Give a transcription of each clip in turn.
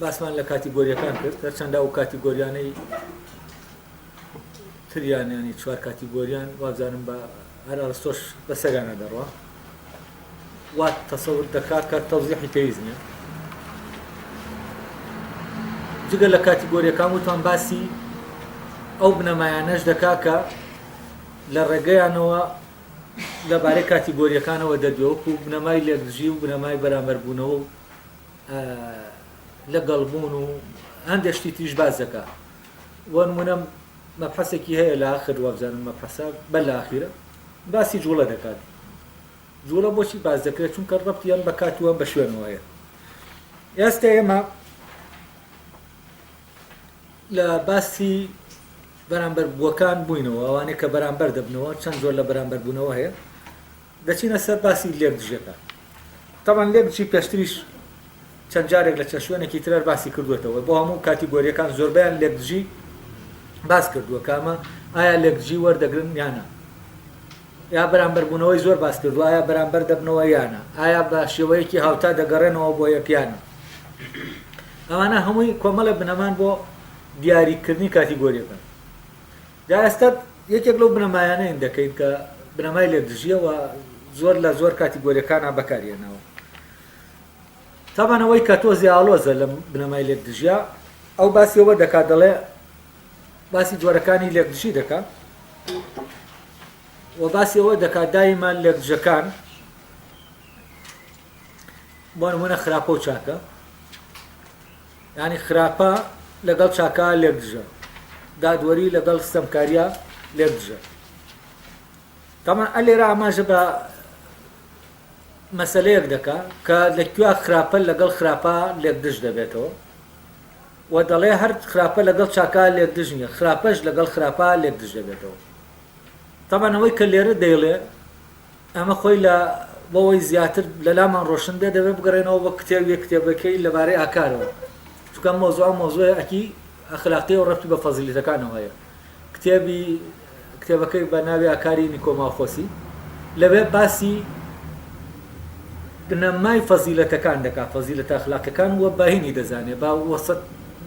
باسمان لە کاتیگۆریەکان کرد هەرچەندە ئەو کاتیگۆریانەی تریان ینی چوار کاتیگۆریان وابزانم بە هەر ئەرستۆش بەسەریانە دەڕوا وا تەسەور دەکا کە تەوزیحی پێویست نیە جگە لە کاتیگۆریەکان وتان باسی ئەو بنەمایانەش دەکا کە لە ڕێگەیانەوە لەبارەی کاتیگۆریەکانەوە دەدوێ وەکو بنەمای لێکدژی و بنەمای بەرامبەربوونەوە و لە گەڵ بوون و هەندێک شتی تریش باس دەکا بۆ نمونە مەبحەسێکی هەیە لە ئاخر وابزانم مەبحەسە بە لە ئاخیرە باسی جوڵە دەکات جوڵە بۆچی باس دەکرێت چونکە ڕەبتی ئەم بە کاتووە بە شوێنەوە هەیە ئێستا ئێمە لە باسی بەرامبەر بووەکان بووینەوە ئەوانەیە کە بەرامبەر دەبنەوە چەند زۆر لە بەرامبەر بوونەوە هەیە دەچینە سەر باسی لێکدژەکان. تەبعەن لێکدژی پێشتریش چەند جارێک لە چەند شوێنێکی ترر باسی کردووەتەوە. بۆ هەموو کاتیگۆریەکان زۆربەیان لێکدژی باس کردووە کە ئەمە ئایا لێکدژی وەردەگرن یا نا. ئایا بەرامبەر بوونەوەی زۆر باس کردووە ئایا بەرامبەر دەبنەوە یا نا. ئایا بە شێوەیەکی هاوتا دەگەڕێنەوە بۆ یەک یا نا. ئەمانە هەمووی کۆمەڵە بنەمان بۆ دیاریکردنی کاتیگۆریەکان. جا ئێستا یەکێک لەو بنەمایانەین دەکەین کە بنەمای لێ دژیە و زۆر لە زۆر کاتیگۆریەکانا بەکاری هێناوە. تابان ئەوەی کە تۆزێ ئاڵۆزە لەم بنەمای لێک دژیە ئەو باسی ئەوە دەکات دەڵێ باسی جۆرەکانی لێک دژی دەکا و باسی ئەوە دەکات دایمە لێک دژەکان بۆ نمونە خراپە و چاکە یانی خراپە لەگەڵ چاکە لێک دژە دادوەری لەگەڵ ستەمکاریە لێک دژە تەمان ئە لێرە ئاماژە بە مەسلەیەک دەکا کە لە کوێ خراپە لەگەڵ خراپە لێک دژ دەبێتەوە و دەڵێ هەر خراپە لەگەڵ چاکە لێک دژ نیە خراپەش لەگەڵ خراپە لێک دژ دەبێتەوە تەمانەوەی کە لێرە دەیڵێ ئەمە خۆی لە بۆ ئەوەی زیاتر لە لامان ڕۆشن بێت دەبێت بگەڕێنەوە بۆ کتێب یەک کتێبەکەی لەبارەی ئاکارەوە چونکە ئەم مەوزوعە ئەو مەوزوعە ئەکی ئەخلاقیە و ڕەبتی بە فەزیلەتەکانەوە هەیە کتێبی کتێبەکەی بە ناوی ئاکاری نیکۆماخۆسی لەوێ باسی بنەمای فەزیلەتەکان دەکات فەزیلەتە ئەخلاقیەکان و باهینی دەزانێت با وەسەت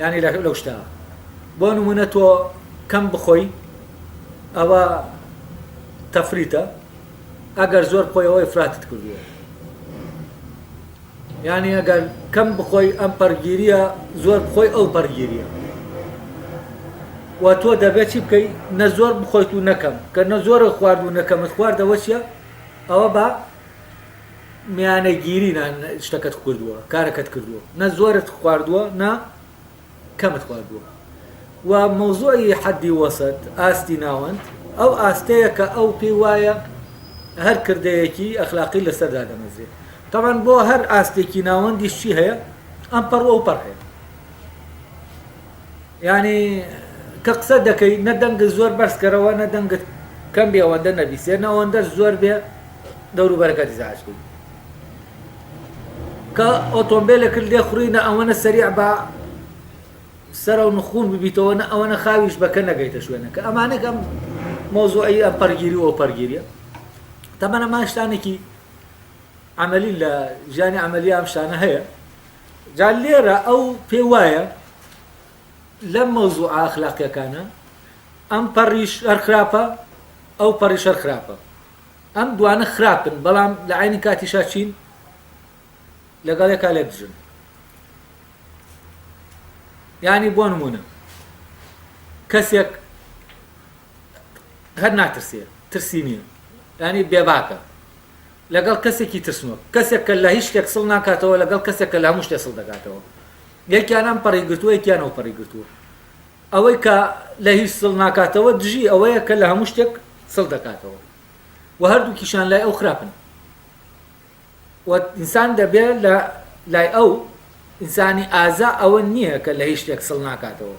یانی لەو شتە بۆ نمونە تۆ کەم بخۆی ئەوە تەفریتە ئەگەر زۆر بخۆی ئەوەی فراتت کردووە یانی ئەگەر کەم بخۆی ئەم پەرگیریە زۆر بخۆی ئەو پەرگیریە و تۆ دەبێت چی بکەیت نە زۆر بخۆیت و نەکەم کە نە زۆرە خوارد و نەکەمت خواردەوە چیە ئەوە بە میانەگیری نا شتەکەت کردووە کارەکەت کردووە نە زۆرت خواردووە نا کەمت خواردووە و مەوزوعی حەدی وەسەت ئاستی ناوەند ئەو ئاستەیە کە ئەو پێی وایە هەر کردەیەکی ئەخلاقی لەسەر دادەمەزرێت تاوان بۆ هەر ئاستێکی ناوەندیشی هەیە ئەم پەڕ ئەو پەڕ هەیە یانی کە قسە دەکەی نە دەنگت زۆر بەرز کەرەوە نە دەنگت کەم بێ ئەوەندە نەبیسێ نە ئەوەندەش زۆر بێ دەوروبەرەکەت ئیزعاج بی کە ئۆتۆمبیلێکت لێ خوڕی نە ئەوەنە سەریع بە سەرە و نخون ببیتەوە نە ئەوەنە خاویش بەکە نەگەیتە شوێنەکە ئەمانێک ئەم مۆزوعی ئەم پەرگیری و پەرگیریە تەمەەنە ماشتانێکی عملی لە ژیانی عملی ئەم شانە هەیە جا لێرە ئەو پێی وایە لەم مەوزوعە ئەخلاقیەکانە ئەم پەڕیش هەر خراپە ئەو پەڕیش هەر خراپە ئەم دوانە خراپن بەڵام لە عینی کاتیشا چین لەگەڵ یەکا لێک دژن ینی بۆ نمونە کەسێک هەر ناترسێ ترسی نییە ینی بێباکە لەگەڵ کەسێکی ترسنۆک، کەسێک کە لە هیچ شتێک سڵ ناکاتەوە، لەگەڵ کەسێک کە لە هەموو شتێ سڵ دەکاتەوە. یەکیان ئەم پەڕی گرتووە، یەکیان ئەو پەڕی گرتووە. ئەوەی کە لە هیچ سڵ ناکاتەوە دژی ئەوەیە کە لە هەموو شتێک سڵ دەکاتەوە و هەردووکیشان لای ئەو خراپن و ئینسان دەبێ لە لای ئەو ئینسانی ئازا ئەوە نییە کە لە هیچ شتێک سڵ ناکاتەوە.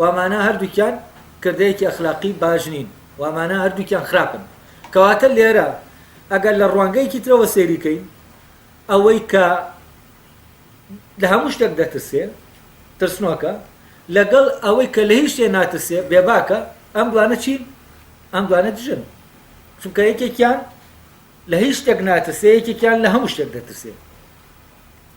وامانا هەردووکیان کردەیەکی ئەخلاقی باش نین وامانا هەردووکیان خراپن کەواتە لێرە ئەگەر لە ڕوانگەیەکی ترەوە سێریکەین ئەوەی کە لە هەموو شتێک دەترسێ ترسنۆکە لەگەڵ ئەوەی کە لە هیچ شتێ ناترسێ بێباکە ئەم دوانە چین ئەم دوانە دژن چونکە یەکێکیان لە هیچ شتێک ناترسێ یەکێکیان لە هەموو شتێک دەترسێ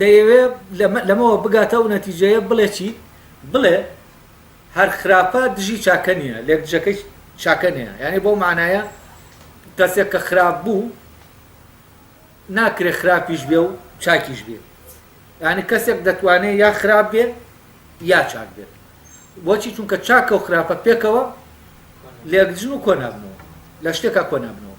دەیەوێ لەمەوە بگاتە ئەو نەتیجەیە بڵێ چی؟ بڵێ هەر خراپە دژی چاکە نییە، لێکدژەکەی چاکە نییە. یانی بەو مانایە کەسێک کە خراپ بوو ناکرێ خراپیش بێ و چاکیش بێ. یانی کەسێک دەتوانێ یا خراپ بێ یا چاک بێت. بۆچی چونکە چاکە و خراپە پێکەوە لێکدژن و کۆنابنەوە لە شتێکا کۆنابنەوە.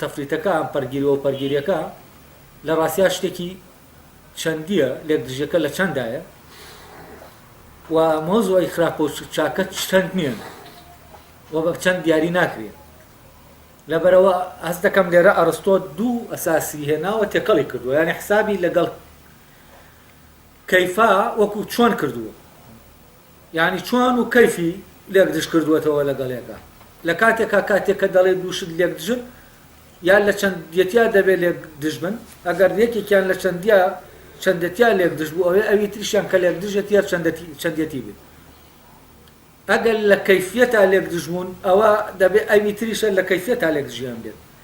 تەفریتەکە ئەم پەرگیری و ئەو پەرگیریەکە لە ڕاستیا شتێکی چەندیە لێک دژیەکە لە چەندایە و مۆزوعی خراپ و چاکە چەند نییە و بە چەند دیاری ناکرێت لەبەرەوە ئەس دەکەم لێرە ئەرستۆ دوو ئەساسی هێناوە تێکەڵی کردووە یانی حسابی لەگەڵ کەیفا وەکو چۆن کردووە یانی چۆن و کەیفی لێک دژ کردووەتەوە لەگەڵێکا لە کاتێکا کاتێک کە دەڵێ دوو شت لێک دژن یا لە چەندیەتیا دەبێ لێک دژ بن ئەگەر یەکێکیان لە چەندیا چەندەتیا لێک دژ بوو ئەوێ ئەوی تریشیان کە لێک دژێتی یا چەندەتی چەندیەتی بێ ئەگەر لە کەیفیەتا لێک دژ بوون ئەوە دەبێ ئەوی تریشە لە کەیفیەتا لێک دژیان بێت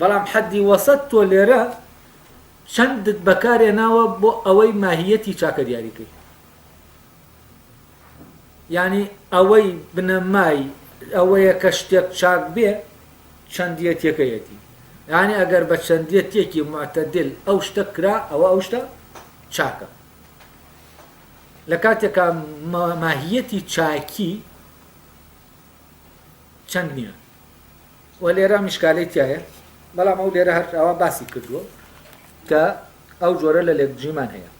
بەڵام حەدی وەسەت تۆ لێرە چەندت بەکارهێناوە بۆ ئەوەی ماهییەتی چاکە دیاری کەی؟ یانی ئەوەی بنەمای ئەوەیە کە شتێک چاک بێ چەندیەتیەکەیەتی یانی ئەگەر بە چەندیەتێکی معتەدل ئەو شتە کرا ئەوە ئەو شتە چاکە لە کاتێکا ماهیەتی چاکی چەند نییە وە لێرە میشکالەی تیایە بەڵام ئەو لێرە هەر ئەوە باسی کردووە کە ئەو جۆرە لە لێکدژیمان هەیە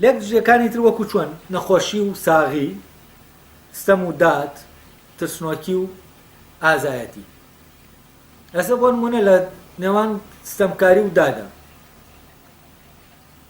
لێک دژیەکانی تر وەکو چۆن نەخۆشی و ساغی ستەم و داد ترسنۆکی و ئازایەتی ئەسە بۆ نمونە لە نێوان ستەمکاری و دادا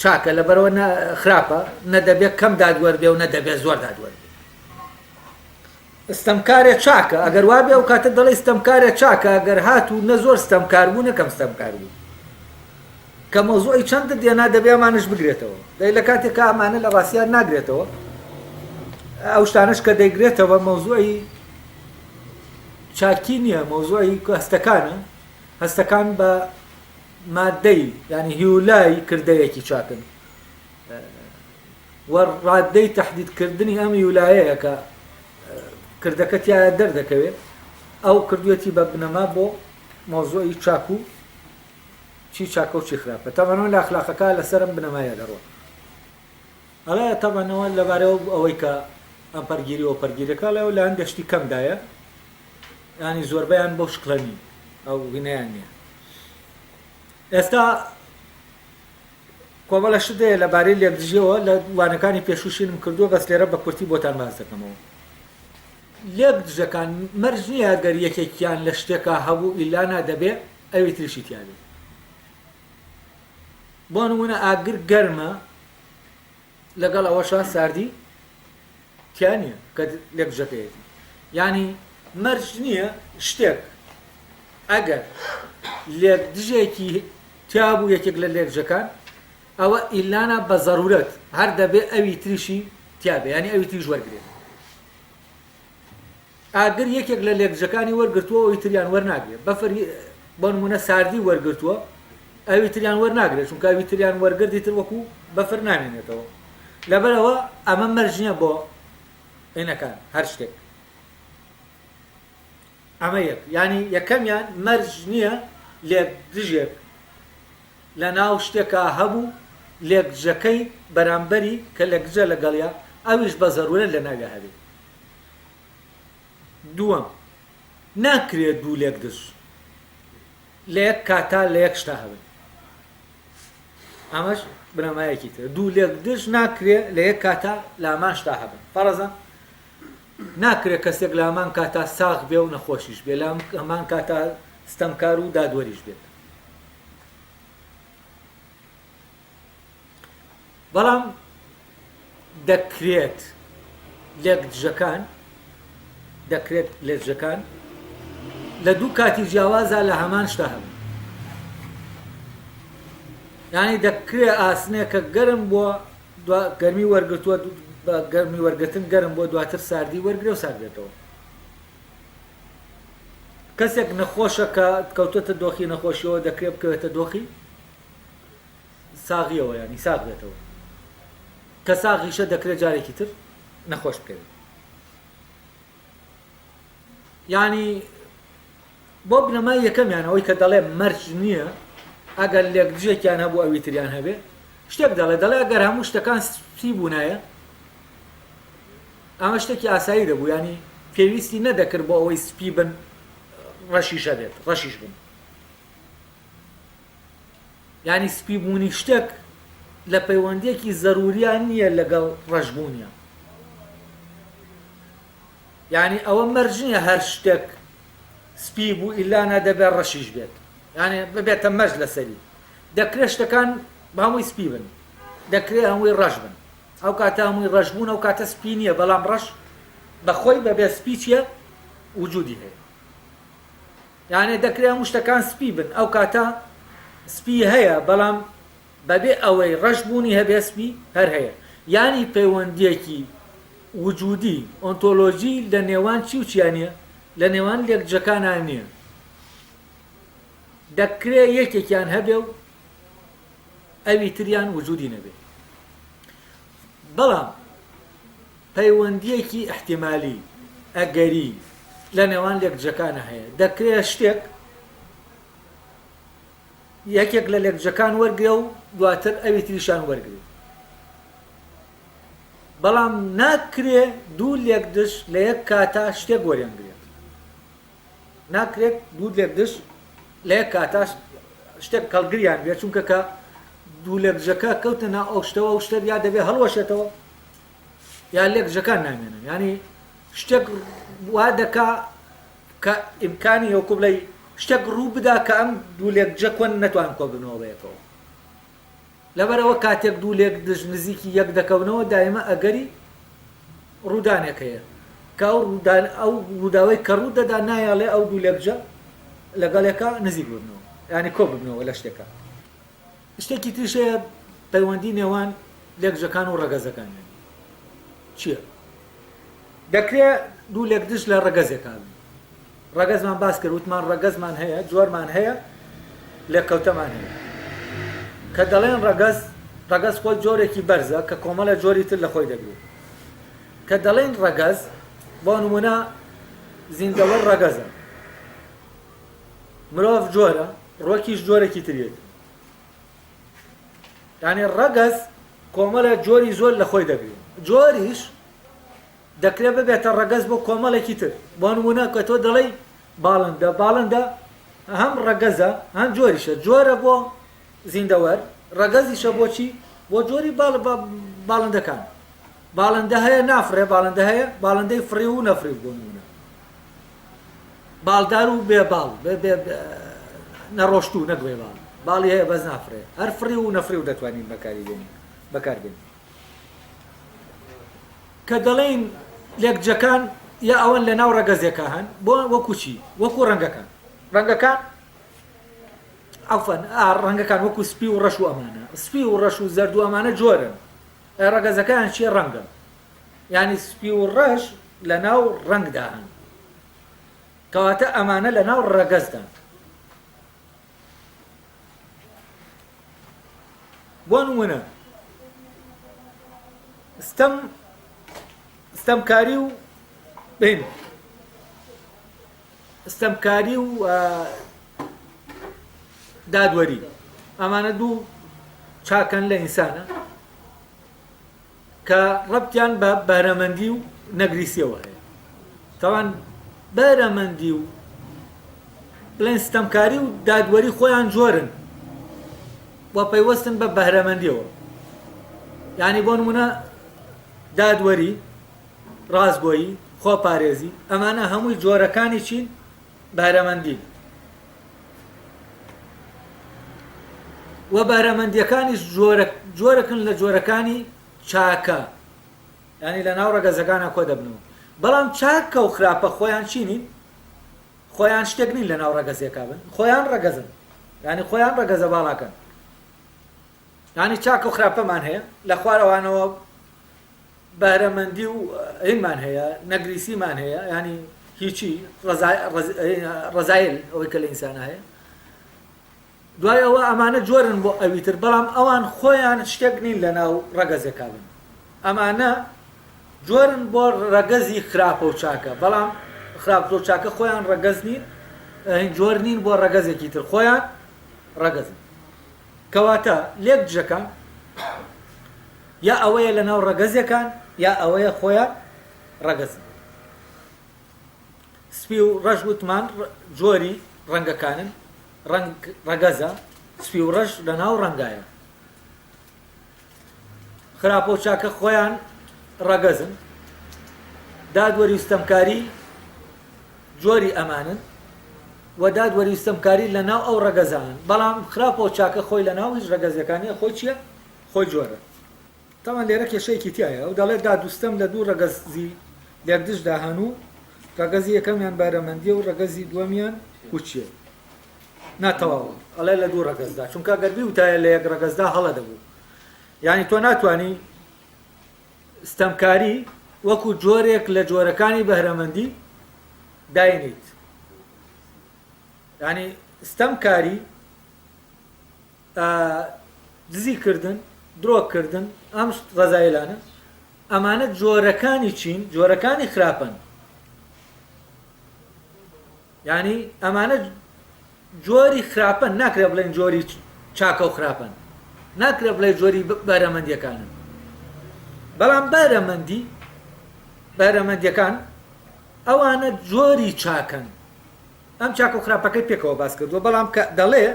چاکە لەبەرئەوە نە خراپە نە دەبێ کەم دادوەر بێ و نە دەبێ زۆر دادوەر بێ ستەمکارێ چاکە ئەگەر وا بێ ئەو کاتە دەڵی ستەمکارێ چاکە ئەگەر هات و نە زۆر ستەمکار بوو نەکەم ستەمکار بوو کە مۆزوعی چەندت دێنا دەبێ ئەمانش بگرێتەوە دەی لە کاتێکە ئەمانە لە ڕاستیان ناگرێتەوە ئەو شتانش کە دەیگرێتەوە مۆزوعی چاکی نییە مۆزوعی هەستەکانە هەستەکان بە ماددەی یانی هیولای کردەیەکی چاکن و ڕاددەی تهدیدکردنی ئەم هیولایەیە کە کردەکە تایە دەردەکەوێت ئەو کردوێتی بە بنەما بۆ مۆزۆی چاک و چی چاکە و چی خراپە تەمەنەوە لە ئەخلاقەکە لەسەرم بنەمایە دەڕۆن ئەڵێ تەبەنەوە لەبارەو ئەوەی کە ئەم پەرگیری و پەرگیرەکە ئەڵێ لە هەندێ شتی کەمدایە یانی زۆربەیان بەو شکلە نین ئەو وینەیان نییە ئێستا کۆمەڵە شدەیە لە بارەی لێکدژیەوە لە وانەکانی پێشوشینم کردووە بەس لێرە بە کورتی بۆتان باز دەکەمەوە لێک دژەکان مەرج نییە گەر یەکێکیان لە شتێکە هەبوو ئیلانا دەبێ ئەوی تریشی تیاێ بۆ نموونە ئاگر گەرمە لەگەڵ ئەوەشا ساردی تیا نییە کە لێک بجەکەیەتی یعنی مەرج نییە شتێک ئەگەر لێک دژێکی تیابوو یەکێک لە لێکجەکان ئەوە ئیلانە بە زەرورەت هەر دەبێ ئەوی تریشی تیاابێ ینی ئەوی تریش وەرگێت ئاگر یەکێک لە لێکدژەکانی وەرگرتووە ئەوی تریان وەرناگرێت، بەفر بۆ نموونە ساردی وەرگرتووە ئەوی تریان وەرناگرێت، چونکە ئەوی تریان وەرگرت ئیتر وەکو بەفر نامێنێتەوە، لەبەر ئەوە ئەمە مەرج نییە بۆ ئینەکان هەر شتێک. ئەمە یەک یانی یەکەمیان مەرج نییە لێکدژێک لە ناو شتێکا هەبوو لێکدژەکەی بەرامبەری کە لەکدژە لەگەڵیا ئەویش بە زەروورەت لە ناویا هەبێت. دووەم، ناکرێت دوو لێکدز لە یەک کاتا لە یەک شتا هەبن. ئەمەش بنەمایەکی ترە. دوو لێکدز ناکرێت لە یەک کاتا لە هەمان شتا هەبن. فەرەزە ناکرێت کەسێک لە هەمان کاتا ساغ بێ و نەخۆشیش بێ، لە هەمان کاتا ستەمکار و دادوەریش بێت. بەڵام دەکرێت لێک دژەکان دەکرێت لێکژەکان لە دوو کاتی جیاوازە لە هەمان شتا هەبن ینی دەکرێ ئاسنێک کە گەرم بووە گەرمی وەرگتووە بە گەرمی وەرگتن گەرم بۆ دواتر ساردی وەرگرە و ساردێتەوە کەسێک نەخۆشە کە کەوتەتە دۆخی نەخۆشیەوە دەکرێت بکەوێتە دۆخی ساغیەوە یانی ساغ بێتەوە کە ساغیشە دەکرێت جارێکی تر نەخۆش بکەوێت یانی بۆ بنەمای یەکەمیان ئەوەی کە دەڵێ مەرج نییە ئەگەر لێک دژێکیان هەبوو ئەوی تریان هەبێ شتێک دەڵێ دەڵێ ئەگەر هەموو شتەکان سپی بوونایە ئەمە شتێکی ئاسایی دەبوو ینی پێویستی نەدەکرد بۆ ئەوەی سپی بن ڕەشیشە بێت ڕەشیش بن یانی سپی بوونی شتێک لە پەیوەندیەکی زەروریان نییە لەگەڵ ڕەش بوونیان یانی ئەوە مەرج نییە هەر شتێک سپی بوو ئیلانا دەبێت ڕەشیش بێت یانێ ببێتە مەرج لەسەری دەکرێت شتەکان بەمووی سپی بن دەکرێت هەمووی ڕەش بن ئەو کاتە هەمووی ڕەش بوون ئەو کاتە سپی نییە بەڵام ڕەش بەخۆی بەبێ سپی چیە وجودی هەیە یانێ دەکرێ هەموو شتەکان سپی بن ئەو کاتە سپی هەیە بەڵام بەبێ ئەوەی ڕەش بوونی هەبێ سپی هەر هەیە یانی پەیوەندیەکی وجودی ئۆنتۆلۆجی لە نێوان چی و چیا نیە لە نێوان لێکجەکانا نیە دەکرێ یەکێکیان هەبێ و ئەوی تریان وجودی نەبێ بەڵام پەیوەندییەکی ئیحتیمالی، ئەگەری، لە نێوان لێکدژەکانە هەیە، دەکرێت شتێک یەکێک لە لێکدژەکان وەرگرێ و دواتر ئەوی تریشیان وەرگرێت، بەڵام ناکرێت دوو لێکدژ لە یەک کاتا شتێک وەریانگرێت. ناکرێت دوو لێکدژ لە یەک کاتا شتێک کەڵگریان بێت، چونکە کە دوو لێکدژەکە کەوتنە ناو ئەو شتەوە، ئەو شتە یا دەبێت هەڵوەشێتەوە، یان لێک دژەکان نامێنن یانی شتێک وا دەکا کە ئیمکانی هەوکو بڵێ شتێک ڕوو بدا کە ئەم دوو لێک دژە کۆن نەتوان کۆ بنەوە بەیەکەوە لەبەرەوە کاتێک دوو لێک دژ نزیکی یەک دەکەونەوە دایمە ئەگەری ڕوودانێک هەیە کە ئەو ڕوودان ئەو ڕووداوی کە ڕوو دەدا نایاڵێ ئەو دوو لێکجە لەگەڵێکە نزیک ببنەوە ینی کۆ ببنەوە لە شتێکە شتێکی تریش هەیە پەیوەندی نێوان لەکجەکان و ڕەگەزەکان یانی چیە؟ دەکرێ دوو لەکجش لە ڕەگەزێکا بن ڕەگەزمان باس کرد وتمان ڕەگەزمان هەیە جۆرمان هەیە لێکەوتەمان هەیە کە دەڵێن ڕەگەز ڕەگەز خۆی جۆرێکی بەرزە کە کۆمەڵە جۆری تر لە خۆی دەگرێت کە دەڵێن ڕەگەز بۆ نمونە زیندەوەر ڕەگەزە مرۆڤ جۆرە ڕۆکیش جۆرێکی تریەتی یعنی ڕەگەز کۆمەلە جۆری زۆر لە خۆی دەگرین جۆریش دەکرێت ببێتە ڕەگەز بۆ کۆمەڵێکی تر بۆ نمونە کە تۆ دەڵی باڵندە باڵندە هەم ڕەگەزە هەم جۆریشە جۆرە بۆ زیندەوەر ڕەگەزیشە بۆچی بۆ جۆری باڵ باڵندەکان باڵندە هەیە نافرێ باڵندە هەیە باڵندەی فڕی و نەفری بۆ نمونە باڵدار و بێ باڵ نەڕۆشتوو نەک بێ باڵ باڵی هەیە بەس نافرێ هەر فڕی و نەفری و دەتوانین بەکاری بێنین بەکار بێنین کە دەڵێن لێکجەکان یا ئەوەن لە ناو ڕەگەزێکە هەن بۆ وەکوچی وەکو ڕەنگەکان ڕەنگەکان ئەفەن ڕەنگەکان وەکو سپی و ڕەش و ئەمانە سپی و ڕەش و زەردو ئەمانە جۆرن ڕەگەزەکان چیە ڕەنگە یانی سپی و ڕەش لەناو ڕەنگدا هەن کەواتە ئەمانە لەناو ڕەگەزدان بۆ نمونە ستەم ستەمکاری و بین ستەمکاری و دادوەری ئەمانە دوو چاکەن لە ئینسانە کە ڕەبتیان بە بەرەمەندی و نەگریسیەوە هەیە تاوان بەرەمەندی و بڵێن ستەمکاری و دادوەری خۆیان جۆرن و پەیوەستن بە بەرەمەندیەوە ینی بۆ نمونە دادوەری ڕاستگۆیی خۆپارێزی ئەمانە هەمووی جۆرەکانی چین بەهرەمەندی و بەهرەمەندیەکانیش جۆرە جۆرەکن لە جۆرەکانی چاکە ینی لە ناو ڕەگەزەکانە کۆ دەبنەوە بەڵام چاکە و خراپە خۆیان چی نین خۆیان شتێک نین لە ناو ڕەگەزیەکە بن خۆیان ڕەگەزن ینی خۆیان ڕەگەزە باڵاکەن یانی چاکە و خراپەمان هەیە، لە خوارەوانەوە بەهرەمەندی و هینمان هەیە، نەگریسیمان هەیە، یانی هیچی، رەزایل ئەوەی کە لە ئینسانا هەیە. دوای ئەوە ئەمانە جۆرن بۆ ئەوی تر، بەڵام ئەوان خۆیان شتێک نین لە ناو رەگەزێکا بن. ئەمانە جۆرن بۆ رەگەزی خراپە و چاکە، بەڵام خراپە و چاکە خۆیان رەگەز نین، جۆر نین بۆ رەگەزێکی تر، خۆیان رەگەزن. کەواتە لێک دژەکان یا ئەوەیە لە ناو ڕەگەزێکان یا ئەوەیە خۆیان ڕەگەزن. سپی و ڕەش وتمان جۆری ڕەنگەکانن، ڕەنگ ڕەگەزە، سپی و ڕەش لە ناو ڕەنگایە. خراپەو چاکە خۆیان ڕەگەزن. دادوەری و ستەمکاری جۆری ئەمانن و دادوەری و ستەمکاری لە ناو ئەو ڕەگەزانن، بەڵام خراپەو چاکە خۆی لە ناو هیچ ڕەگەزێکا نیە، خۆی چیە؟ خۆی جۆرە. تاوان لێرە کێشەیەکی تیایە، ئەو دەڵێت داد و ستەم لە دوو ڕەگەزی لێکدژدا هەن و ڕەگەزی یەکەمیان بارەمەندیە و ڕەگەزی دووەمیان پوچیە. نا تەواو ئەڵێ لە دوو ڕەگەزدا چونکە گەر بیوتایە لە یەک ڕەگەزدا هەڵە دەبوو یعنی تۆ ناتانی ستەمکاری وەکو جۆرێک لە جۆرەکانی بەهرەمەندی داینیت ینی ستەمکاری دزی کردن درۆکردن ئەم ڕزایلانە ئەمانە جۆرەکانی چین جۆرەکانی خراپن یانی ئەمانە جۆری خراپەن ناکرێ بڵێن جۆری چاکە و خراپەن ناکرێ بڵێ جۆری بەرەمەندیەکانن بەڵام بەرەمەندی بەرەمەندیەکان ئەوانە جۆری چاکەن ئەم چاک و خراپەکەی پێکەوە باس کردووە بەڵام کە دەڵێ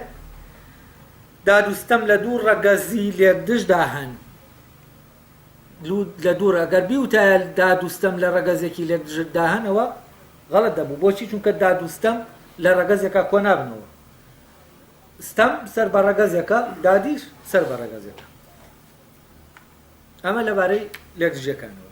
دادوستەم لە دوو ڕەگەزی لێکدژدا هەن لە دوورە گەر بیوتایە داد و ستەم لە ڕەگەزێکی لێک دژت داهەنەوە غەڵەت دەبوو بۆچی چونکە داد و ستەم لە ڕەگەزێکا کۆ نابنەوە ستەم سەر بە ڕەگەزێکە دادیش سەر بە ڕەگەزێکە ئەمە لەبارەی لێکدژەکانەوە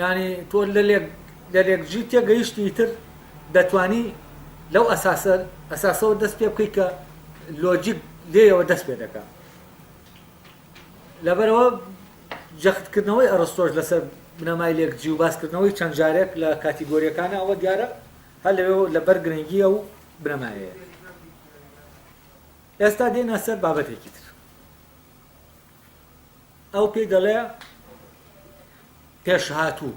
یانی تۆ لەلێک لەلێک ژی تێگەیشتی ئیتر دەتوانی لەو ئەساسە ئەساسەوە دەست پێ بکەی کە لۆجیک لێیەوە دەست پێ دەکە لەبەرەوە جەختکردنەوەی ئەڕستۆش لەسەر بنەمای لێک جی و باسکردنەوەی چەند جارێک لە کاتیگۆریەکانە ئەوە دیارە هەر لەوێ لەبەر گرنگیە و بنەمایەیە ئێستا دێنە سەر بابەتێکی تر ئەو پێی دەڵێ پێشهاتوو.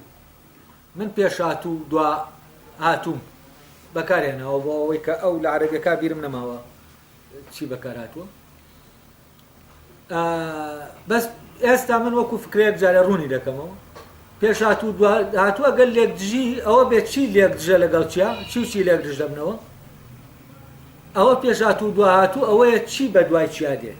من پێشهاتوو و دواهاتووم بەکارهێناوە بۆ ئەوەی کە ئەو لە عەرەبیەکە بیرم نەماوە چی بەکارهاتووە. بەس ئێستا من وەکو فکرێک جارە ڕوونی دەکەمەوە پێشهاتوو هاتووە گەل لێک دژی ئەوە بێت چی لێک دژە لەگەڵ چیا چی و چی لێک دژ دەبنەوە ئەوە پێشهاتوو دواهاتوو ئەوەیە چی بە دوای چیا دێت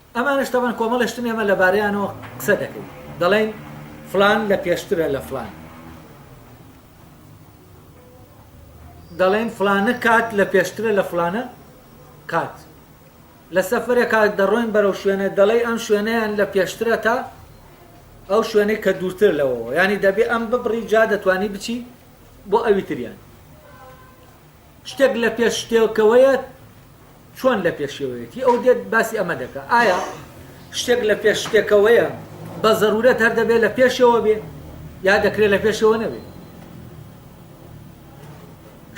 ئەمانەش تەبەن کۆمەڵێ شتن ئێمە لەبارەیانەوە قسە دەکەین دەڵێین فڵان لە پێشترە لە فڵان دەڵێن فلانە کات لە پێشترە لە فلانە کات لە سەفرێکا دەڕۆین بەرەو شوێنە دەڵێ ئەم شوێنەیان لە پێشترە تا ئەو شوێنەی کە دوورتر لەوەوە ینی دەبێ ئەم ببڕی جا دەتوانی بچی بۆ ئەوی تریان شتێک لە پێش شتێکەوەیە چۆن لە پێشەوەیەتی ئەو دێت باسی ئەمە دەکە ئایا شتێک لە پێش شتێکەوەیە بە زەرورەت هەر دەبێت لە پێشەوە بێ یا دەکرێت لە پێشەوە نەبێت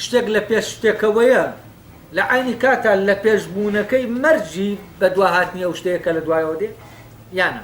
شتێک لە پێش شتێکەوەیە لە عینی کاتا لە پێشبوونەکەی مەرجی بە دواهاتنی ئەو شتەیە کە لە دوایەوە دێ یانە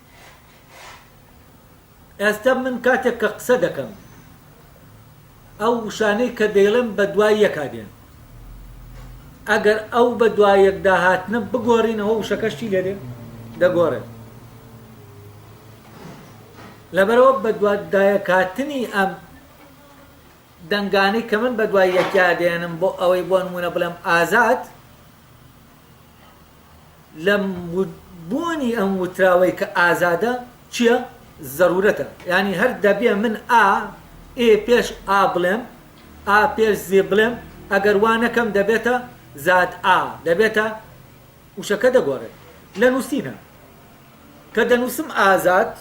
ئێستا من کاتێک کە قسە دەکەم ئەو وشانەی کە دەیڵێم بە دوای یەکا دێن ئەگەر ئەو بە دوای یەکدا هاتنە بگۆڕینەوە وشەکەشتی لێ دێ دەگۆڕێت لەبەرەوە بە دوادایەکاتنی ئەم دەنگانی کە من بە دوای یەکیا دێنم بۆ ئەوەی بۆ نمونە بڵێم ئازاد لە بوونی ئەم وتراوەی کە ئازادە چیە؟ زەرورەتە یانی هەر دەبێ من ئا ئێ پێش ئا بڵێم ئا پێش زێ بڵێم ئەگەر وا نەکەم دەبێتە زاد ئا دەبێتە وشەکە دەگۆڕێت لە نووسینە. کە دەنووسم ئازاد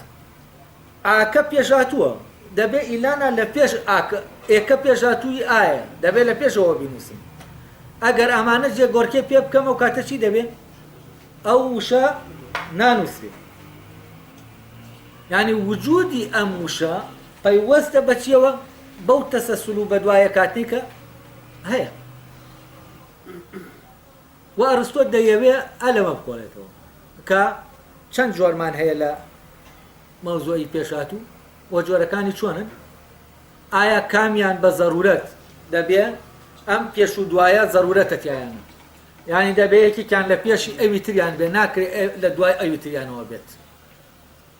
ئاکە پێشهاتووە دەبێ ئیلانا لە پێش ئاک ئێکە پێشهاتووی ئایە دەبێ لە پێشەوە بینووسم ئەگەر ئەمانە جێ گۆرکێ پێ بکەم و کاتە چی دەبێ ئەو وشە نانووسێ یعنی وجودی ئەم وشە پەیوەستە بەچیەوە بەو تەسەسل و بەدوایە کاتنی کە هەیە وە ئەرستۆ دەیەوێ ئە لەمە بکۆڵێتەوە کە چەند جۆرمان هەیە لە مەوزوعی پێشاتوو و جۆرەکانی چۆنن ئایا کامیان بە زەرورەت دەبێ ئەم پێش و دوایە زەرورەتە تیایانە یعنی دەبێ یەکێکیان لە پێشی ئەوی تریان بێ ناکرێت لە دوای ئەوی تریانەوە بێت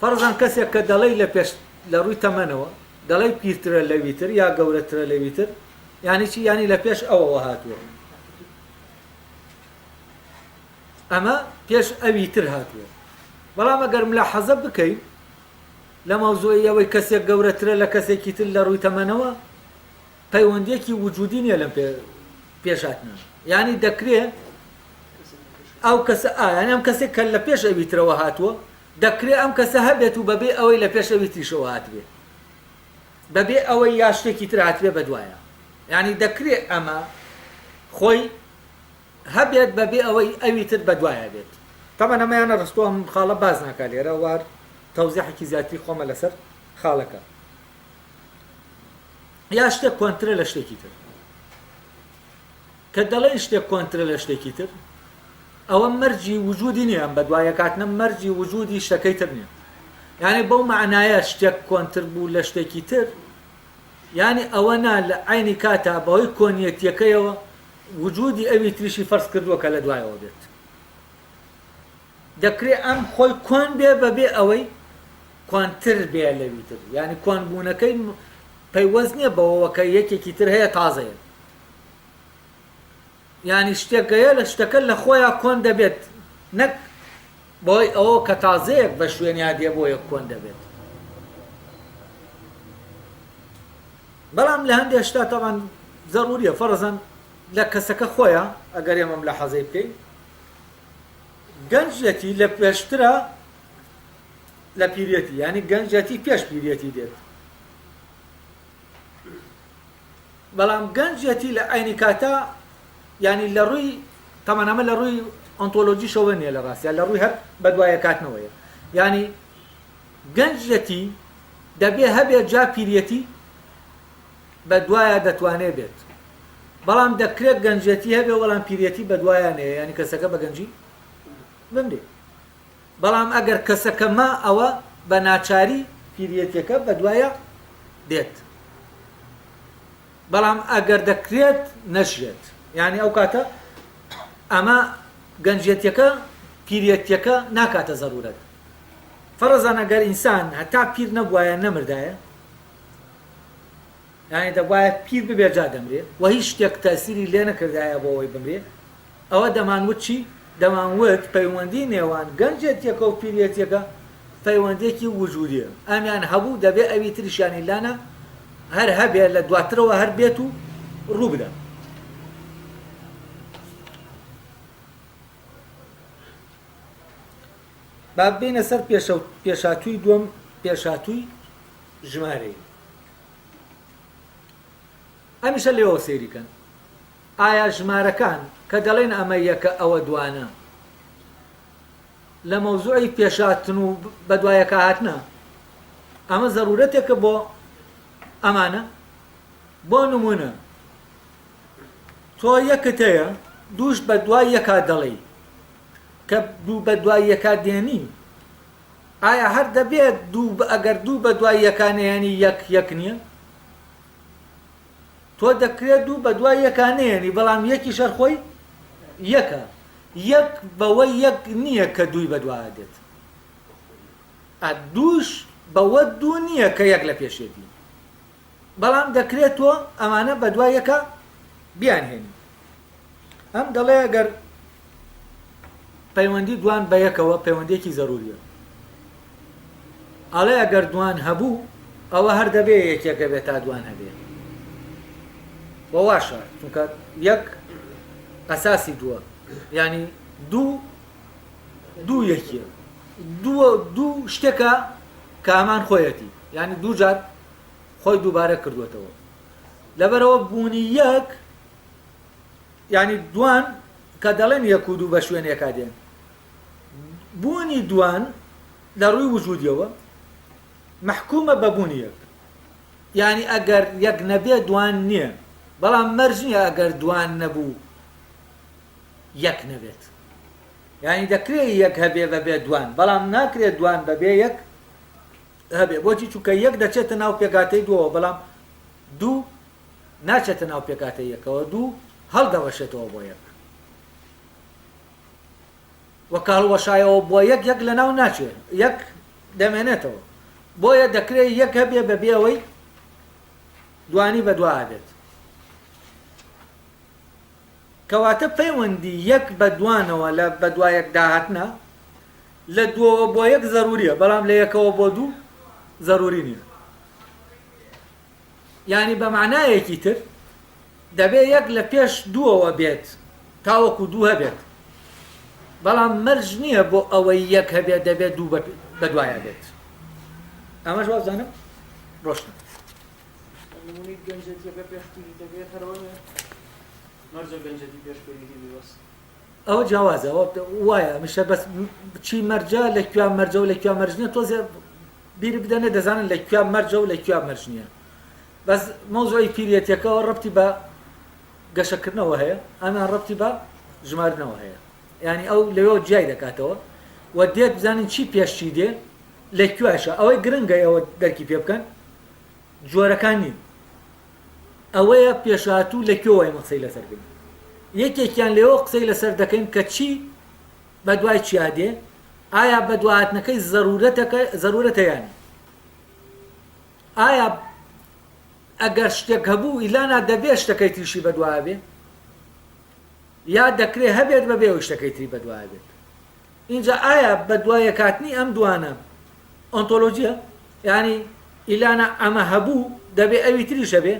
فەرزەن کەسێک کە دەڵێی لە پێش لە ڕووی تەمەنەوە دەڵێی پیرترە لەوی تر یا گەورەترە لەوی تر یانی چی یانی لە پێش ئەوەوە هاتووە ئەمە پێش ئەوی تر هاتووە بەڵام ئەگەر ملا حەزە بکەین لە مەوزوعی ئەوەی کەسێک گەورەترە لە کەسێکی تر لە ڕووی تەمەنەوە پەیوەندیەکی وجودی نیە لەم پێش هاتنە یانی دەکرێ ئەو کەسە یانی ئەم کەسێک کە لە پێش ئەوی ترەوە هاتووە دەکرێ ئەم کەسە هەبێت و بەبێ ئەوەی لە پێش ئەوی تریشەوە هاتبێ بەبێ ئەوەی یا شتێکی تر هاتبێ بەدوایە یانی دەکرێ ئەمە خۆی هەبێت بەبێ ئەوەی ئەوی تر بەدوایە بێت تەمەە مەیانە ڕستۆم خاڵە باز ناکە لێرە وار تەوزیحێکی زیاتری خۆمە لەسەر خاڵەکە یا شتێک کۆنترە لە شتێکی تر کە دەڵێن شتێک کۆنترە لە شتێکی تر ئەوە مەرجی وجودی نییە ئەم بە دوایەکاتنە مەرجی وجودی شتەکەی تر نییە یعنی بەو معنایە شتێک کۆنتر بوو لە شتێکی تر یعنی ئەوە نا لە عینی کاتا بەهۆی کۆنیەتیەکەیەوە وجودی ئەوی تریشی فەرز کردووە کە لە دوایەوە بێت دەکرێ ئەم خۆی کۆن بێ بەبێ ئەوەی کۆنتر بێ لەوی تر، یانی کۆن بوونەکەی پەیوەست نیە بەوەوە کە یەکێکی تر هەیە تازەیە، یانی شتێک هەیە لە شتەکە لە خۆیا کۆن دەبێت نەک بەهۆی ئەوەوە کە تازەیەک بە شوێنیا دێ بۆیە کۆن دەبێت. بەڵام لە هەندێ شتا تەبعەن زەروریە فەرزەن لە کەسەکە خۆیا ئەگەر ئێمە ملاحەزەی بکەین، گەنجێتی لە پێشترە لە پیرێتی یعنی گەنجێتی پێش پیرێتی دێت بەڵام گەنجێتی لە ئاینی کاتا ینی لە ڕووی تەمانەمە لە ڕووی ئۆنتۆلۆژیشەوە نیە لە ڕاستە لە ڕووی هەر بەدوایە کاتنەوەیە ینی گەنجەتی دەبێ هەبێ جا پیرەتی بەدوایە دەتوانێ بێت بەڵام دەکرێت گەنجێتی هەبێ وەڵام پیرێتی بەدوایە نێ ینی کەسەکە بەگەنجی بمرێ بەڵام ئەگەر کەسەکە ما ئەوە بە ناچاری پیرەتەکە بەدوایە دێت بەڵام ئەگەر دەکرێت نەژێت یعنی ئەو کاتە ئەمە گەنجێتەکە پیرەتەکە ناکاتە زەرورەت فەرزان ئەگەر ئینسان هەتا پیر نەبووایە نەمردایە یانی دەبوایە پیر ببێ جا دەمرێ و هیچ شتێک تەئسیری لێ نەکردایە بۆ ئەوەی بمرێ، ئەوە دەمان وت چی؟ دەمان وت پەیوەندی نێوان گەنجێتیەکە و پیرێتیەکە پەیوەندیەکی وجودیە ئەمیان هەبوو دەبێ ئەوی تریشیانی لانە هەر هەبێ لە دواترەوە هەر بێت و ڕوو بدا. با بێینە سەر پێشاتووی دووەم پێشاتووی. ژمارەیی ئەمیشە لێەوە سێریکەن ئایا ژمارەکان کە دەڵێن ئەمە یەکە ئەوە دوانە لە مەوزوعی پێشاتن و بەدوایەکە هاتنە ئەمە زەرورەتێکە بۆ ئەمانە بۆ نمونە تۆ یەکت هەیە دووش بە دوای یەکا دەڵێی کە دوو بە دوای یەکا دێنی ئایا هەر دەبێت دوو بە ئەگەر دوو بە دوای یەکا نەیەنی یەک یەک نییە؟ تۆ دەکرێت دوو بە دوای یەکا نەیەنی بەڵام یەکیش هەر خۆی یەکە یەک بەوە یەک نییە کە دووی بەدوایە دێت ئە دووش بەوە دوو نییە کە یەک لە پێشێتی بەڵام دەکرێت تۆ ئەمانە بەدوای یەکە بیانهێنی ئەم دەڵێ گەر پەیوەندی دوان بە یەکەوە پەیوەندێکی زەروریە ئەڵێ ئەگەر دوان هەبوو ئەوە هەر دەبێ یەکێک دەبێت تا دوان هەبێ واشە چونکە یەک ئەساسی دووە ینی دوو دوو یەکیە دووە دوو شتێکە کامان خۆیەتی ینی دوو جار خۆی دووبارە کردوێتەوە لەبەرەوە بوونی یەک یانی دوان کە دەڵێن یەک و دوو بە شوێن یەکا دێن بوونی دوان لە ڕووی وجودیەوە محکومە بە بوونی یەک یعنی ئەگەر یەک نەبێ دوان نییە بەڵام مەرج نییە ئەگەر دوان نەبوو یەک نەبێت یعنی دەکرێت یەک هەبێ بەبێ دوان بەڵام ناکرێت دوان بەبێ یەک هەبێ بۆچی چونکە یەک دەچێتە ناو پێگاتەی دووە بەڵام دوو ناچێتە ناو پێکهاتەی یەکەوە دوو هەڵدەوەشێتەوە بۆ یەک و کە هەڵوەشایەوە بۆ یەک یەک لە ناو ناچێت یەک دەمێنێتەوە بۆیە دەکرێت یەک هەبێ بە بێەوەی دوانی بە دوا بێت کەواتە پەیوەندی یەک بە دوانەوە لە بە دوایەک داهاتنا لە دووەوە بۆ یەک زەروریە بەڵام لە یەکەوە بۆ دوو زەروری نییە یانی بە مەعنایەکی تر دەبێ یەک لە پێش دووەوە بێت تاوەکو دوو هەبێت، بەڵام مەرج نییە بۆ ئەوەی یەک هەبێت دەبێ دوو بە دوایە بێت. ئەمەش وابزانم ڕۆشنە. نموونەی گەنجێتییەکە پێش کوریتەکەی قەرەوە نییە؟ مەرجە گەنجێتی پێش کوریتی بێ بەس. ئەوە جیاوازە ئەوە وایە هەمیشە بەس چی مەرجە لە کوێ مەرجە و لە کوێ مەرج نییە تۆزێ بیر بدەنێ دەزانن لە کوێ مەرجە و لە کوێ مەرج نییە بەس مەوزۆی پیرەتەکەەوە ڕەتی بە گەشەکردنەوە هەیە ئەمیان ڕەتی بە ژمارنەوە هەیە ینی ئەو لەوێ جیای دەکاتەوە و دێت بزانین چی پێشتی دێ لە کوێشە ئەوەی گرنگە ئەوە دەرکی پێ بکەن جۆرەکان نین ئەوەیە پێشهاتوو لە کوێوە ئێمە قسەی لەسەر بێ یەکێکیان لێوە قسەی لەسەر دەکەین کە چی بە دوای چیا دێ ئایا بە دواتنەکەی زەرورەتەکە زەرورەتە یانی ئایا ئەگەر شتێک هەبوو ئیلانا دەبێ شتەکەی تریشی بەدوابێ یا دەکرێ هەبێت بەبێ ئەو شتەکەی تری بەدوابێت ئینجا ئایا بەدوایەکاتنی ئەم دوانە ئۆنتۆلۆجیە؟ یانی ئیلانا ئەمە هەبوو دەبێ ئەوی تریش هەبێ؟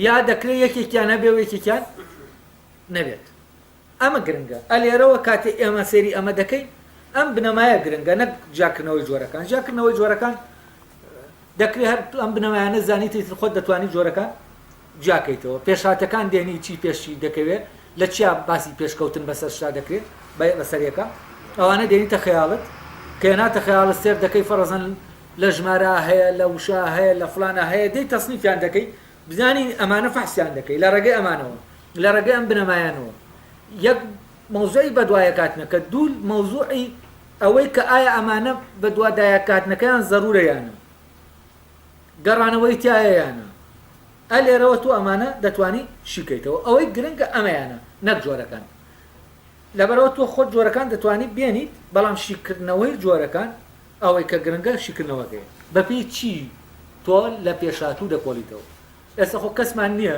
یا دەکرێ یەکێکیان هەبێ و یەکێکیان نەبێت ئەمە گرنگە ئەلێرەوە کاتێ ئێمە سێری ئەمە دەکەین ئەم بنەمایە گرنگە نەک جیاکردنەوەی جۆرەکان جیاکردنەوەی جۆرەکان دەکرێت هەر ئەم بنەمایانە زانیتی خۆت دەتوانانی جۆرەکان جیاکەیتەوە پێشهاتەکان دێنی چی پێش چی دەکەوێ لە چیا باسی پێشکەوتن بەسەر شا دەکرێ بەسەر یەکە ئەوانە دێنیتە خەیاڵت کە هێناتە خەیاڵت سێر دەکەی فەڕەزەن لە ژمارە هەیە لە وشە هەیە لە فلانە هەیە دەی تەسنیفیان دەکەی بزانی ئەمانە فەحسیان دەکەی لە ڕێگەی ئەمانەوە لە ڕێگەی ئەم بنەمایانەوە یەک مەوزوعی بەدوایەکاتنە کە دوو مەوزوعی ئەوەی کە ئایا ئەمانە بەدوادایەکاتنەکەیان زەرورەیانە گەڕانەوەی تایەیانە ئە لێرەوە تۆ ئەمانە دەتوانی شیکەیتەوە ئەوەی گرنگە ئەمەیانە نەک جۆرەکان لەبەرەوە تۆ خۆت جۆرەکان دەتوانی بێنیت بەڵام شیکردنەوەی جۆرەکان ئەوەی کە گرنگە شیکردنەوەکەی بەپی چی تۆ لە پێشاتوو دەکۆڵیتەوە ئێستا خۆ کەسمان نییە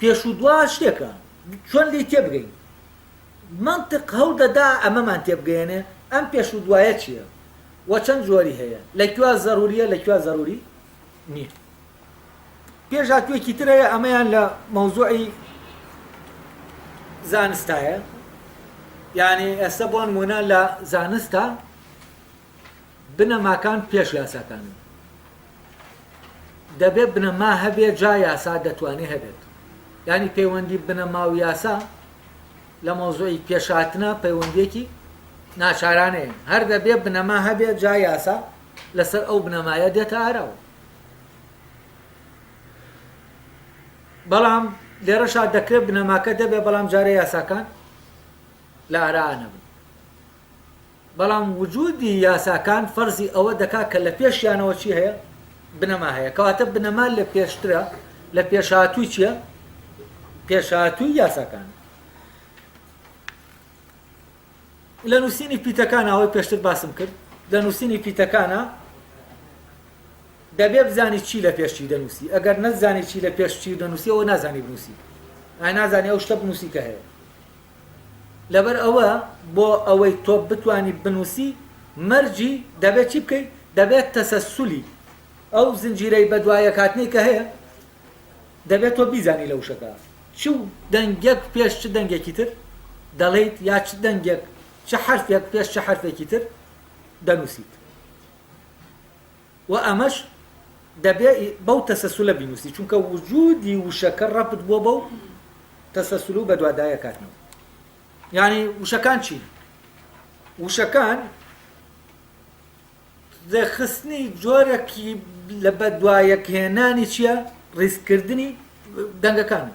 پێش و دوا شتێکە چۆن لێی تێبگەین؟ مەنتق هەوڵ دەدا ئەمەمان تێبگەیەنێ ئەم پێش و دوایە چییە و چەند جۆری هەیە؟ لە کوێ زەروورییە لە کوێ زەرووری نییە؟ پێشهاتوویەکی تر هەیە ئەمەیان لە مەوزوعی زانستایە یانی ئێستا بۆ نموونە لە زانستە بنەماکان پێش یاساکانن. دەبێت بنەما هەبێت جا یاسا دەتوانێت هەبێت. یانی پەیوەندی بنەما و یاسا لە مەوزوعی پێشهاتنە پەیوەندیەکی ناچارانەیە هەر دەبێت بنەما هەبێت جا یاسا لەسەر ئەو بنەمایە دێتە ئاراوە بەڵام لێرەشا دەکرێت بنەماکە دەبێت بەڵام جارە یاساکان لە ئارانە بن بەڵام وجودی یاساکان فەرزی ئەوە دەکات کە لە پێشیانەوە چی هەیە؟ بنەما هەیە. کەواتە بنەما لە پێشترە، لە پێشهاتووی چییە؟ پێشهاتووی یاساکان. لە نووسینی پیتەکان ئەوەی پێشتر باسم کرد لە نووسینی پیتەکانە دەبێ بزانی چی لە پێشی دەنووسی ئەگەر نەزانی چی لە پێشی دەنووسی ئەوە نازانی بنووسی ئای نازانی ئەو شتە بنووسی کە هەیە لەبەر ئەوە بۆ ئەوەی تۆ بتوانی بنووسی مەرجی دەبێت چی بکەیت؟ دەبێت تەسەسولی ئەو زنجیرەی بەدوایەکهاتنەی کە هەیە دەبێت تۆ بیزانی لە وشەکە چ دەنگێک پێش چ دەنگێکی تر دەڵێیت یا چ دەنگێک چ حرفێک پێش چ حرفێکی تر دەنووسیت. وە ئەمەش دەبێ بەو تەسەسولە بینوسی چونکە وجودی وشەکە رەبت بووە بەو تەسەسول و بەدواداکاتنەوە یانی وشەکان چین وشەکان دەخستنی جۆرەکی لە بەدوایەکهێنانی چییە ڕیزکردنی دەنگەکان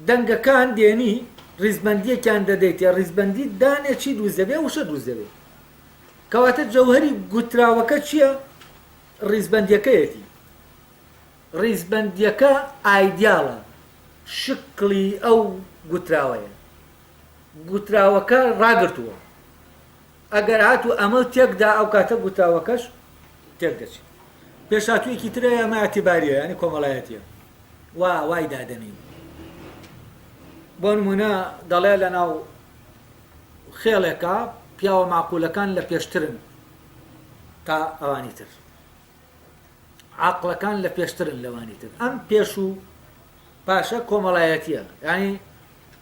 دەنگەکان دێنی ڕیزبەندیەکیان دەدەیتێ ڕیزبەندی دانێ چی دروست دەبێ وشە دروست دەبێ کەواتە جەوهری گوتراوەکە چییە ڕیزبەندیەکەیەتی ڕیزبەندیەکە ئایدیاڵە شکڵی ئەو گوتراوەیە گوتراوەکە ڕاگرتووە ئەگەر هاتوو ئەمەو تێک دا ئەو کاتە گوتاوەکەش تێک دەچێ. پێشهاتوویەکی ترە ئەمە ئیعتیباریە یانی کۆمەڵایەتیە وا وای دادەنین. بۆ نموونە دەڵێ لە ناو خێڵێکا پیاوە مەعقولەکان لە پێشترن تا ئەوانی تر. عاقڵەکان لە پێشترن لەوانی تر. ئەم پێش و پاشە کۆمەڵایەتیە یانی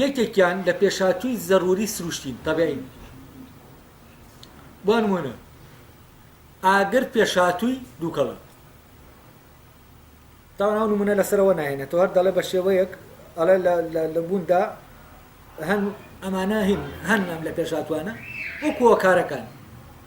یەکێکیان لە پێشهاتووی زەرووری سروشتین، طبیعین. بۆ نموونە، ئاگر پێشهاتووی دووکەڵە. تاوان ئەو نموونە لەسەرەوە ناهێنێتەوە، هەر دەڵێ بە شێوەیەک ئەڵێ لە لە لە بووندا هەن ئەمانە هین هەن ئەم لە پێشهاتووانە وەکوو هۆکارەکان.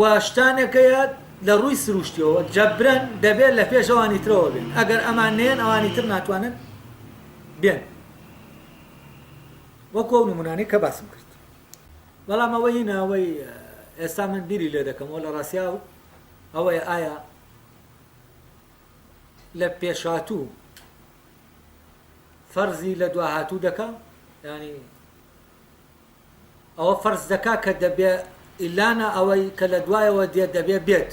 و شتانێک هەیە لە ڕووی سروشتیەوە جەبرەن دەبێت لە پێش ئەوانی ترەوە بێن ئەگەر ئەمان نێن ئەوانی تر ناتوانن بێن وەکو ئەو نمونانەی کە باسم کرد بەڵام ئەوە هی ناوەی ئێستا من بیری لێ دەکەمەوە لە ڕاستیا و ئەوەیە ئایا لە پێشهاتوو فەرزی لە دواهاتوو دەکەم ینی ئەوە فەرز دەکات کە دەبێ ئیلانە ئەوەی کە لە دوایەوە دێت دەبێ بێت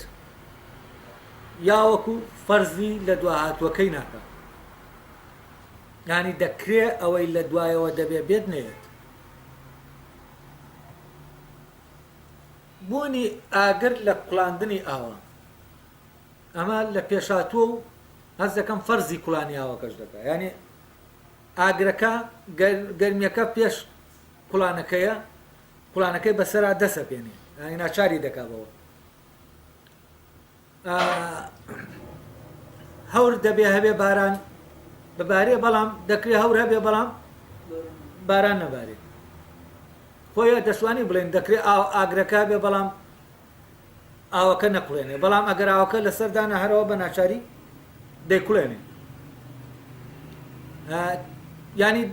یا وەکو فەرزی لە دوا هاتووەکەی ناکە یانی دەکرێ ئەوەی لە دوایەوە دەبێ بێت نەیەت بوونی ئاگر لە کوڵاندنی ئاوا ئەمە لە پێشاتوە و هەز دەکەم فەرزی کوڵانی ئاوەکەش دەکە ینی ئاگرەکە گەرمیەکە پێش کوڵانەکەیە کوڵانەکەی بەسەرا دەسەپێنێ یانی ناچاری دەکا بەوە هەور دەبێ هەبێ باران ببارێ بەڵام دەکرێ هەور هەبێ بەڵام باران نەبارێ خۆیان دەشوانی بڵێن دەکرێت ئاگرەکە بێ بەڵام ئاوەکە نەکوڵێنێ بەڵام ئەگەر ئاوەکە لەسەر دانا هەرەوە بە ناچاری دەیکوڵێنێ ینی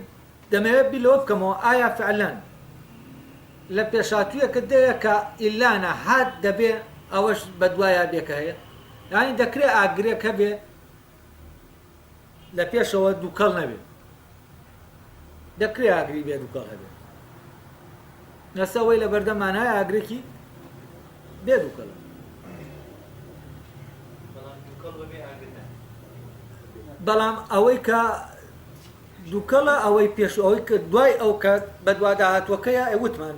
دەمەوێت بی لەوە بکەمەوە ئایا فعلەن لە پێشاتویەکە دەیە کە ئیلانە هات دەبێ ئەوەش بەدوایە بێکە هەیە ینی دەکرێت ئاگرێک هەبێ لە پێشەوە دووکەڵ نەبێت دەکرێ ئاگری بێ دووکەڵ هەبێت نەسەوەی لە بەردەمان هەیە ئاگرێکی بێ دووکەڵە بەڵام ئەوەی کە دووکەڵە ئەوەی پێش ئەوەی کە دوای ئەو کات بەدواداهاتوەکەیە ئەوتمان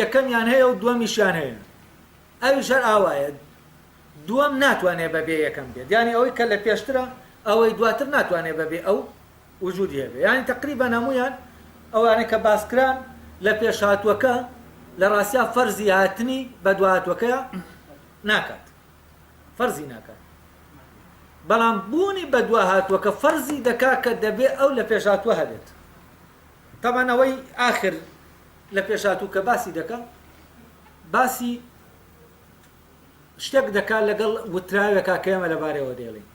یەکەمیان هەیە و دوەمیشیان هەیە ئەویش هەر ئاوایە دوەم ناتوانێ بە بێ یەکەم بێت یانی ئەوەی کە لە پێشترە ئەوەی دواتر ناتوانێ بە بێ ئەو وجودی هەبێ یانی تقریبا هەمویان ئەوانە کە باسکران لە پێشهاتوەکە لە ڕاستیا فەرزی هاتنی بە دواتوەکەیە ناکات فەرزی ناکات بەڵام بوونی بە دوا هاتووە کە فەرزی دەکا کە دەبێ ئەو لە پێشاتوە هەبێت تابان ئەوەی ئاخر لە پێشاتوو کە باسی دەکە باسی شتێک دەکات لەگەڵ وتراوێکا کە ئێمە لەبارەوە دێڵین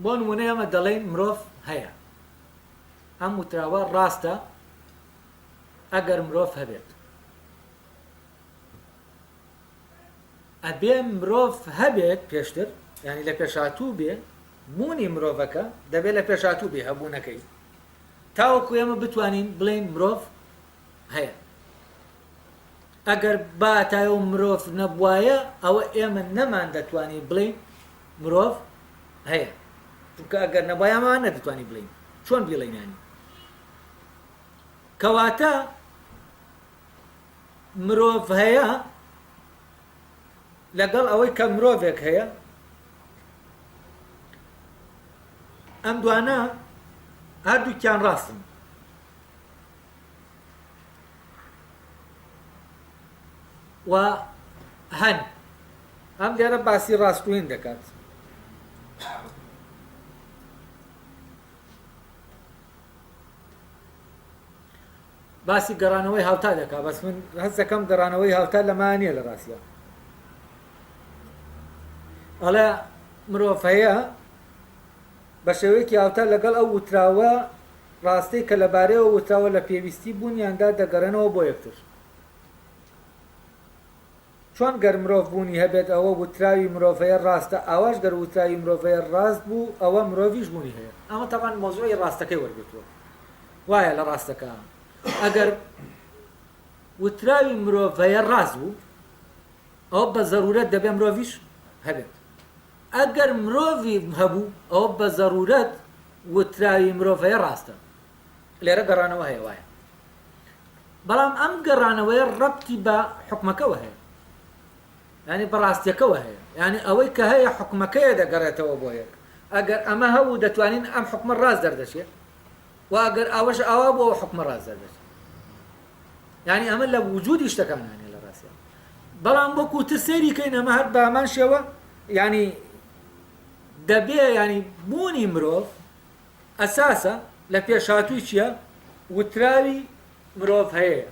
بۆ نمونە ئەمە دەڵێن مرۆڤ هەیە ئەم وتراوە ڕاستە ئەگەر مرۆڤ هەبێت ئەبێ مرۆڤ هەبێت پێشتر یانی لە پێشاتوو بێ بوونی مرۆڤەکە دەبێت لە پێشاتوو بێ هەبوونەکەی تاوەکو ئێمە بتوانین بڵێین مرۆڤ هەیە ئەگەر باتای و مرۆڤ نەبواە ئەوە ئێمە نەمان دەتوانین بڵێین مرۆڤ هەیە چونکە ئەگەر نەبایەمان نەدەتوانین بڵین چۆن بیڵێنیانی کەواتە مرۆڤ هەیە لەگەڵ ئەوەی کە مرۆڤێک هەیە ئەم دوانە هەردووکیان ڕاستن و هەن ئەم لێرە باسی ڕاستوین دەکات باسی گەڕانەوەی هاوتا دەکا بەس من هەست دەکەم گەڕانەوەی هاوتا لە مایا نییە لە ڕاستیا ئەڵێ مرۆڤ هەیە بە شێوەیەکی هاوتا لەگەڵ ئەو وتراوە ڕاستەی کە لەبارەیەوە وتراوە لە پێویستی بوونیاندا دەگەڕێنەوە بۆ یەکتر چۆن گەر مرۆڤ بوونی هەبێت ئەوە وتراوی مرۆڤەیە ڕاستە ئاواش گەر وتراوی مرۆڤەیە ڕاست بوو ئەوە مرۆڤیش بوونی هەیە ئەمە تەبعەن مەوزوعی ڕاستەکەی وەرگرتووە وایە لە ڕاستەکە ئەگەر وتراوی مرۆڤەیە ڕاست بوو ئەو بە زەرورەت دەبێ مرۆڤیش هەبێت ئەگەر مرۆڤی هەبوو ئەو بە زەرورەت وتراوی مرۆڤەیە ڕاستە لێرە گەڕانەوە هەیە وایە بەڵام ئەم گەڕانەوەیە ڕەبتی بە حکومەکەەوە هەیە ینی بەڕاستیەکەەوە هەیە ینی ئەوەی کە هەیە حکومەکەیە دەگەڕێتەوە بۆ یەک ئەگەر ئەمە هەبوو دەتوانین ئەم حکومە ڕاست دەردەچێت واگەر ئاوەش ئاوا بۆ حکومە ڕاست دەردەچێت ینی ئەمە لە وجودی شتەکانانێ لە ڕاستە بەڵام بۆ کوتر سەیری کەین ئەمە هەر بامان شێوە ینی دەبێ ینی بوونی مرۆڤ ئەساسە لە پێشهاتووی چیە وتراوی مرۆڤ هەیەیە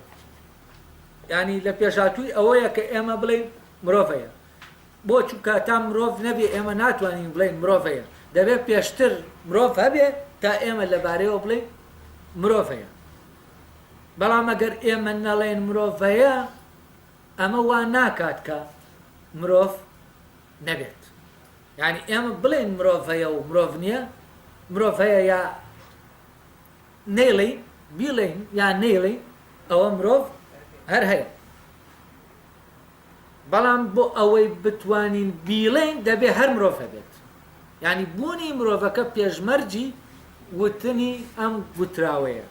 یانی لە پێشهاتووی ئەوەیە کە ئێمە بڵێین مرۆڤ هەیە بۆ چونکە تا مرۆڤ نەبێ ئێمە ناتوانین بڵێین مرۆڤ هەیە دەبێت پێشتر مرۆڤ هەبێ تا ئێمە لەبارەیەوە بڵێین مرۆڤ هەیە بەڵام ئەگەر ئێمە نەڵێن مرۆڤ هەیە ئەمە وا ناکات کە مرۆڤ نەبێت یانی ئێمە بڵێین مرۆڤ هەیە و مرۆڤ نییە، مرۆڤ هەیە یا نەیڵێین، بیڵێین یا نەیڵێین ئەوە مرۆڤ هەر هەیە. بەڵام بۆ ئەوەی بتوانین بیڵێین دەبێ هەر مرۆڤ هەبێت. یانی بوونی مرۆڤەکە پێشمەرجی وتنی ئەم گوتراوەیە.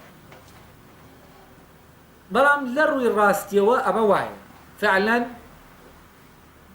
بەڵام لە ڕووی ڕاستیەوە ئەمە وایە. فعلەن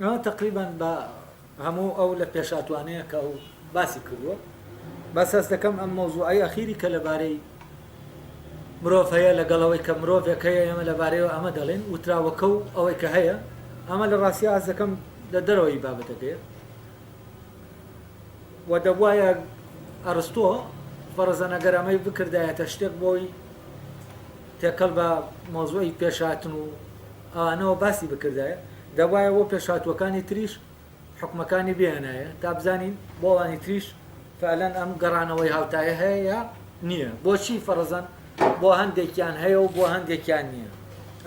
ئەمە تەقریبەن بە هەموو ئەو لە پێشهاتوانەیە کە ئەو باسی کردووە بەس هەست دەکەم ئەم مەوزوعی ئەخیری کە لەبارەی مرۆڤ هەیە لەگەڵ ئەوەی کە مرۆڤێک هەیە ئێمە لەبارەیەوە ئەمە دەڵێن وتراوەکە و ئەوەی کە هەیە ئەمە لە ڕاستیا هەست دەکەم لە دەرەوەی بابەتەکەیە و دەبواە ئەرستۆ فەرزەنەگەر ئەمەی بکردایەتە شتێک بۆی تێکەڵ بە مۆزۆی پێشاتن و ئاوانەوە باسی بکردایە دەبوایە بۆ پێشهاتووەکانی تریش حوکمەکانی بێنایە تا بزانین بۆ ئەوانی تریش فەعلەن ئەم گەڕانەوەی هاوتایە هەیە یا نییە بۆچی فەڕزەن بۆ هەندێکیان هەیە و بۆ هەندێکیان نییە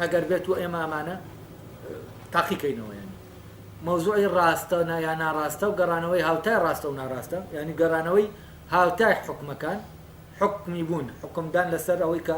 ئەگەر بێت و ئێمە ئەمانە تاقیکەینەوەیان مەوزوعی ڕاستە یا ناڕاستە و گەڕانەوەی هاوتای ڕاستە و ناڕاستە ینی گەڕانەوەی هاوتای حکومەکان حکمی بوون حکمدان لەسەر ئەوەی کە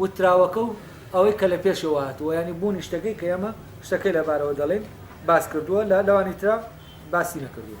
وتراوەکە و ئەوەی کە لە پێشەوە هاتووە یانی بوونی شتەکەی کە ئێمە شتەکەی لە بارەوە دەڵێین باس کردووە لە لەوانی ترا باسی نەکردووە.